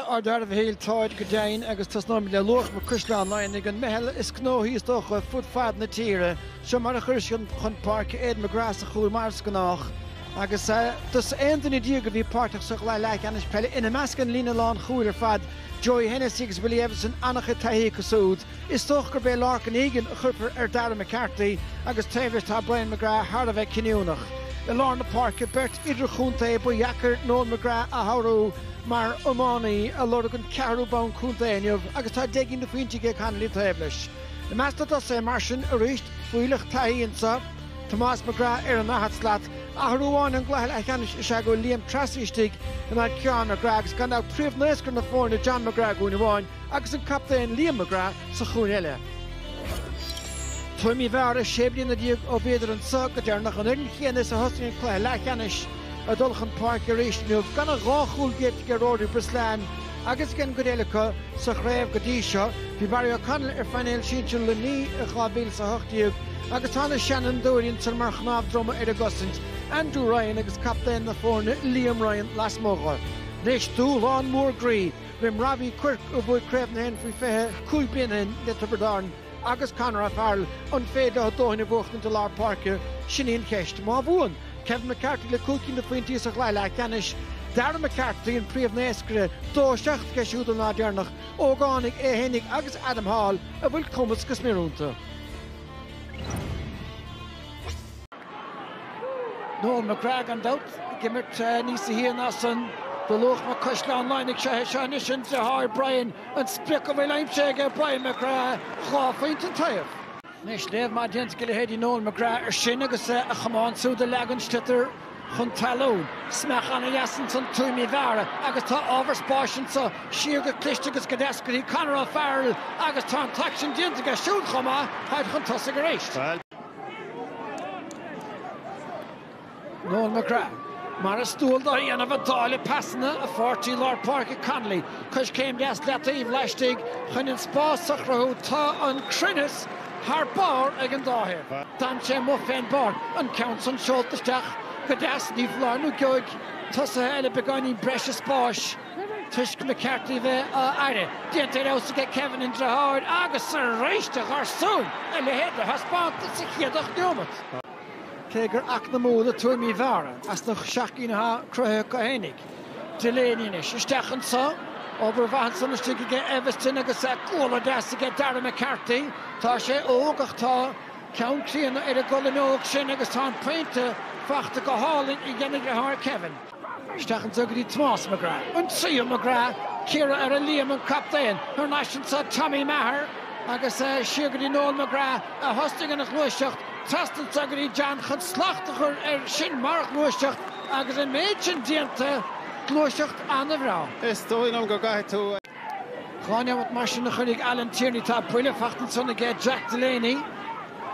Ar dearmhad shíl táid go deimhin agus tosnóimid le Luachma Caisleán Laighnigh, an mheitheal is gnóthaí is dócha fud fad na tíre. Seo mar a chuireas chun páirce Aidan McGrath sa chúl mar is gnách agus dosaen aon duine déag a bhí páirteach sa chluiche leathcheannais peile, ina measc an líne lán chúil ar fad, Joey Hennessy agus Willie Eviston, ana-chuid taithí acu súd. Is dócha gurb é Lorcan Egan a chuirfear ar Darragh McCarthy agus taobh leis tá Brian McGrath thar a bheith cinniúnach. I lár na páirce, beirt idirchontae, ba dheacair Noel McGrath a shárú mar iománaí ag lorg an ceathrú bonn contae inniu agus tá deich gcinn de phointí aige Connolly taobh leis. I measc na dtosaithe mar sin, arís, fuílleach taithí anseo, Tomás McGrath ar an ndaichead slat. Athrú amháin ón gcluiche leathcheannais is ea go bhfuil Liam Treacy istigh in ionad Ciarán McGrath agus gan dabht príomh-naoscaire na foirne John McGrath, i gcúinne amháin, agus an Captaen Liam McGrath sa chúinne eile. Tuaim Uí Mheára, sé bliana déag ó bhíodar anseo go deireanach, an fhoireann chéanna is a thosaigh an cluiche leathcheannais ag dul chun páirce arís inniu gan ach dhá chúl géillte aige Rory Brislane agus ag an gcuid eile acu sa chraobh go dtí seo. Bhí Barry O'Connell ar phainéal sinsir Luimnigh i 2018 agus tá na seanfhondúirí ansan mar chnámh droma ar a gcosaint, Andrew Ryan agus captaen na foirne Liam Ryan lasmuigh. Anois dúshlán mór groí roimh Robbie Quirke, a bhuaigh Craobh na hÉireann faoi 20 cúig bliana ó shin le Tiobraid Árann, agus Conor O'Farrell, an féidir leo a ndóthain a bhuachtaint i lár páirce? Sin í an cheist. Má bhuann, Kevin McCarthy le cúig cinn de phointí sa chluiche leathcheannais, Darragh McCarthy, an príomhnaoscaire, dó a seacht aige siúd ón lá deireanach, ógánaigh é fhéinig agus Adam Hall a bhfuil cumas go smior iontu. Noel McGrath, gan dabht, ag imirt níos a haon ansan do Luachma Caisleán Laighnigh. Seo anois an deartháir Brian, an sprioc a bhfuil aimsithe aige, Brian McGrath, dhá phointe an taobh. Anois léamh maith déanta ag leithéidí Noel McGrath ar sin agus a chamán súd a leagan sliotar chun talún. Smeach ana dheas ansan Tuaim Uí Mheára agus tá ábhar spáis anso siar go cliste agus go deas go dtí Conor O'Farrell agus tá an t-aicsean déanta aige siúd chomh maith, táid chun tosaigh arís. Noel McGrath, Mar is dual dó a dhéanamh ag dáileadh pasanna, a pháirtí lár páirce Connolly coiscéim deas leataobh laistigh chun an spás a chruthú tá an cruinneas thar barr ag an dá thaobh. D'fhan sé amuigh fén bpáirc, an ceann san seolta isteach go deas, ní foláir nó geobhaidh tosaithe eile beagáinín breise spáis. Toisc McCarthy a bheith á fhaire, déanta ar fheabhas ag Kevin an Deartháir agus arís a gharsúin a leithéid de thaispeántas sa chéad ocht neomat. Cé gur eacnamúla Tuaim Uí Mheára as na seacht gcinn atá cruthaithe acu fhéinig, Delaney anois isteach anseo, obair mhaith ansan istigh aige Eviston agus bualadh deas aige Darragh McCarthy. Tá sé óg ach tá ceann críonna ar an gcolainn óg sin agus tá an pointe fachta go hálainn ag an Deartháir Kevin. Isteach anso go dtí Tomás McGrath, an tríú McGrath, cíoradh ar a Liam an captaen thar n-ais anso, Tommy Maher, agus siar go dtí Noel McGrath a thosnaigh an ghluaiseacht, trasna anso go dtí John chun slacht a chur air sin mar ghluaiseacht agus an méid sin déanta, gluaiseacht ana-bhreá. Is dóigh liom go gcaithfidh tú. Dhá neomat mar sin a chuirfidh Alan Tierney Tá buille fachta ansan aige Jack Delaney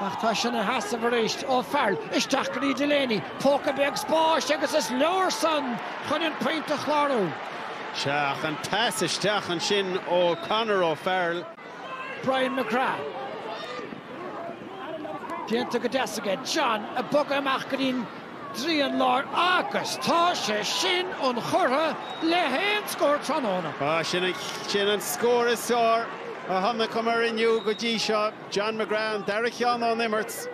ach tá sé ina sheasamh arís. O'Farrell, isteach go dtí Delaney, póca beag spáis agus is leor san chun an pointe a chlárú. Sea, ach an pas isteach ansin ó Conor O'Farrell. Brian McGrath. Déanta go deas aige. John, ag bogadh amach go dtí an dtrian láir agus tá sé sin inchurtha le haon scór tráthnóna. Sin an scór is fearr a chonaiceamar inniu go dtí seo. John McGrath an dara cheann ón imirt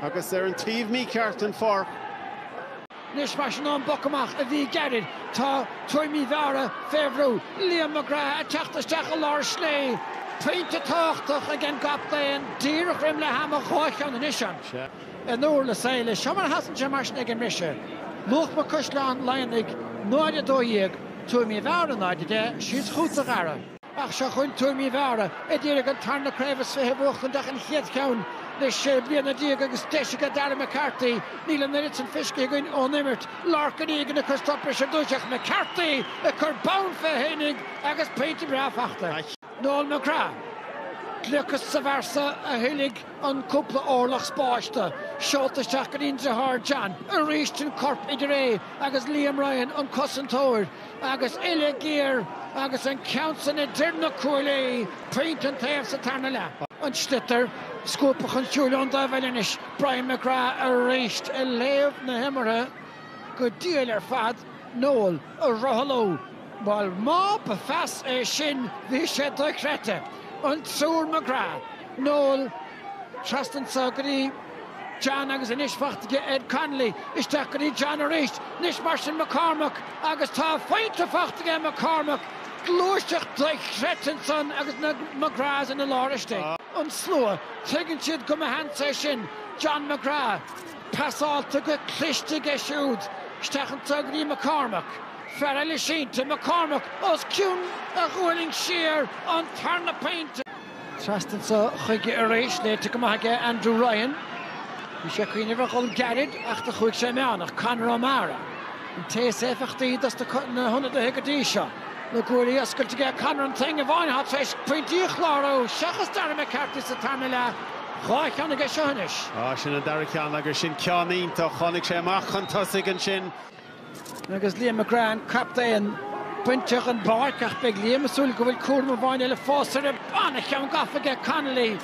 agus ar an taobh mícheart den pháirc. Anois mar sin ón bpoc amach a bhí gairid. Tá Tuaim Uí Mheára fé bhrú. Liam McGrath ag teacht isteach i lár slé. Pointe tábhachtach ag an gcaptaen, díreach roim leath ama, dhá cheann anois ann. in úir na saighile. Seo mar a sheasann sé, mar sin, ag an mbriseadh, Luachma Caisleán Laighnigh 0 12 Tuaim Uí Mheára 0 10 Síos chugatsa a Dhara, Ach seo chugainn Tuaim Uí Mheára, a d'iarraidh an tarna craobh is fiche a bhuachtaint ach an chéad cheann le sé bliana déag agus deis aige Darragh McCarthy, níl an oiread san feiscithe againn ón imirt, Lorcan Egan ag cur stop leis ar dtúis ach, McCarthy ag cur bonn fé fhéinig agus pointe breá fachta ag Noel McGrath, gliocas sa bpearsa a thuillfidh an cúpla orlach spáis do, seolta isteach go dtí an driotháir John, arís an corp idir é agus Liam Ryan, an cosantóir, agus uille ghéar agus an ceann san idir na cuaillí, pointe an taobh sa tarna leath. An sliotar, scuabtha chun siúil ón dtaobh eile anois, Brian McGrath arís ag léamh na himeartha go diail ar fad, Noel, ag rothlú! Bhuel má ba phas é sin bhí sé dochreidte! An triúr McGrath, Noel, trasna anso go dtí John agus anois fachta aige Ed Connolly, isteach go dtí John arís, anois mar sin McCormack agus tá pointe fachta aige McCormack, gluaiseacht dochreidte ansan agus na McGraths ina lár istigh. An slua, tuigeann siad go mba sheans é sin John McGrath. Passáilte go cliste aige siúd isteach anso go dtí McCormack, Farrell sínte, McCormack os cionn a ghualainn siar an tarna pointe. Trasna anso chuige arís, léite go maith aige Andrew Ryan. Bhí sé ag cuimhneamh ar dhul gairid ach do chuaigh sé meánach. Conor O'Mara an té is éifeachtaí dos na hionadaithe go dtí seo. Na guaillí oscailte aige Conor an t-éinne amháin atá tar éis pointí a chlárú seachas Darragh McCarthy sa tarna leath. Dhá cheann aige seo anois. Á, sin an dara ceann agus sin ceann iontach. Tháinig sé amach chun tosaigh ansin. Agus Liam McGrath, an captaen, bainte den bpáirc ach beidh Liam ag súil go bhfuil cúram amháin eile fós air. An-cheann gafa aige Connolly.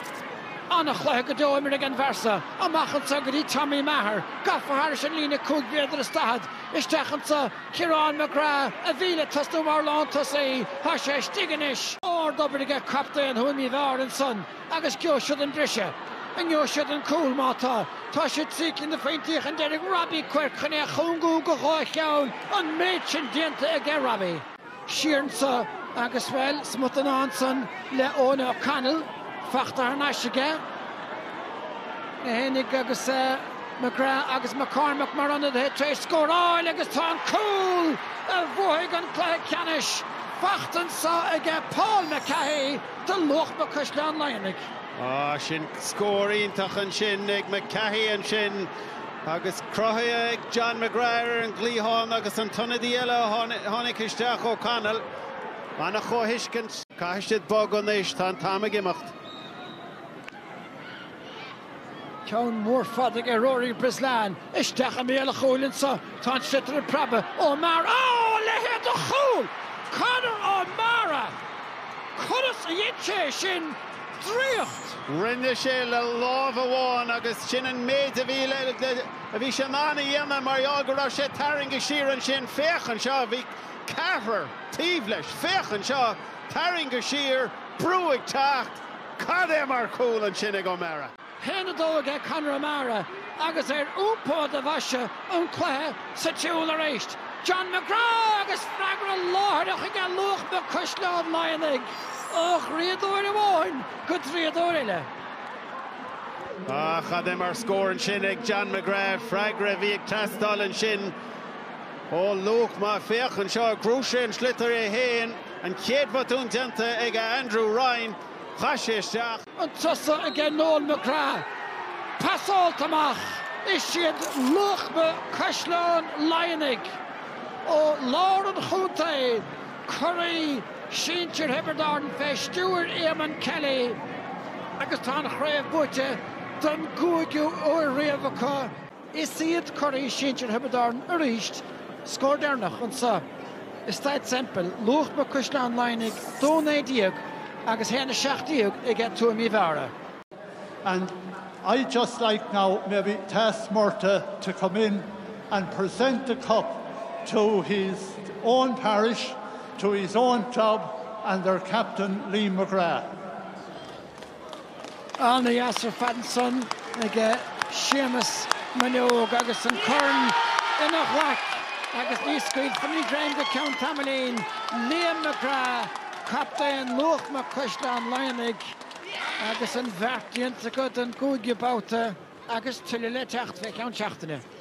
An-chluiche go deo imeartha ag an bhfear so amach anso go dtí Tommy Maher. Gafa thairis an líne cúig mhéadar is daichead isteach anso. Ciarán McGrath a bhí le tosnú mar lántosaí. Tá sé istigh anois. Ardobair aige captaen Thuaim Uí Mheára ansan. Agus gheobhaidh siad an briseadh. An ngeobhaidh siad an cúl, má tá? Tá siad trí cinn de phointí chun deiridh Robbie Quirke chun é a chúngú go dhá cheann. An méid sin déanta aige Robbie. Siar anseo agus, bhuel, smut den ádh ansan le Eoin O'Connell fachta thar n-ais aige féinig agus McGrath agus McCormack mar ionadaithe tar éis scóráil agus tá an cúl a bhuafaidh an cluiche ceannais fachta anseo aige Paul McCahey. do Luachma Caisleán Laighnigh. Á, sin scór iontach ansin ag McCahey ansin agus cruthaithe ag John McGrath ar an gcliathán agus an t-ionadaí eile a tháinig isteach, O'Connell. Ana-chomhthuiscint. Caithfidh siad bogadh anois, tá an t-am ag imeacht. Ceann mór fada ag Rory Brislane. Isteach i mbéal an chúil anseo tá an sliotar ag preabadh. O'Meara, a leithéid de chúl! Conor O'Meara! Conas a dhein sé é sin? Draíocht! Rinne sé le lámh amháin agus sin an méid a bhí le, a bhí sé in ann a dhéanamh mar gheall go raibh sé tarraingthe siar ansin. Féach anseo, bhí ceathrar taobh leis. Féach anseo, tarraingthe siar, brú ag teacht. Cad é mar chúl ansin ag O'Meara! Haon a dó aige Conor O'Meara agus ar iompú do bhoise an cluiche sa tsiúl arís. John McGrath agus freagra láithreach aige Luachma Caisleán Laighnigh ó dhraíodóir amháin go draíodóir eile. Ah, cad é mar scór ansin ag John McGrath, freagra a bhí ag teastáil ansin. Ó, Luachma, féach anseo, ghnóthaigh sé an sliotar é féin, an chéad bhotún déanta ag a Andrew Ryan, chaith sé isteach. Chun tosaigh aige Noel McGrath, pasáilte amach, is iad Luachma Caisleán Laighnigh ó lár an chontae curaidh sinsir Thiobraid Árann fé stiúir Éamonn Kelly agus tá an chraobh buaite don gcúigiú uair riamh acu. Is iad curaidh sinsir Thiobraid Árann arís, scór deireanach anseo i Staid Semple, Luachma Caisleán Laighnigh, dó 19 agus haon 17 aige Tuaim Uí Mheára. And I'd just like now maybe to ask Murtagh to come in and present the cup to his own parish, to his own club and their captain Liam McGrath. An-áthas ar fad ansan ag Séamus Maineog agus an corn ina ghlac agus ní scaoilfear an greim go ceann tamaillín. Liam McGrath, captaen Luachma Caisleán Laighnigh agus an bheart déanta acu don gcúigiú babhta agus tuilleadh le teacht fé cheann seachtaine.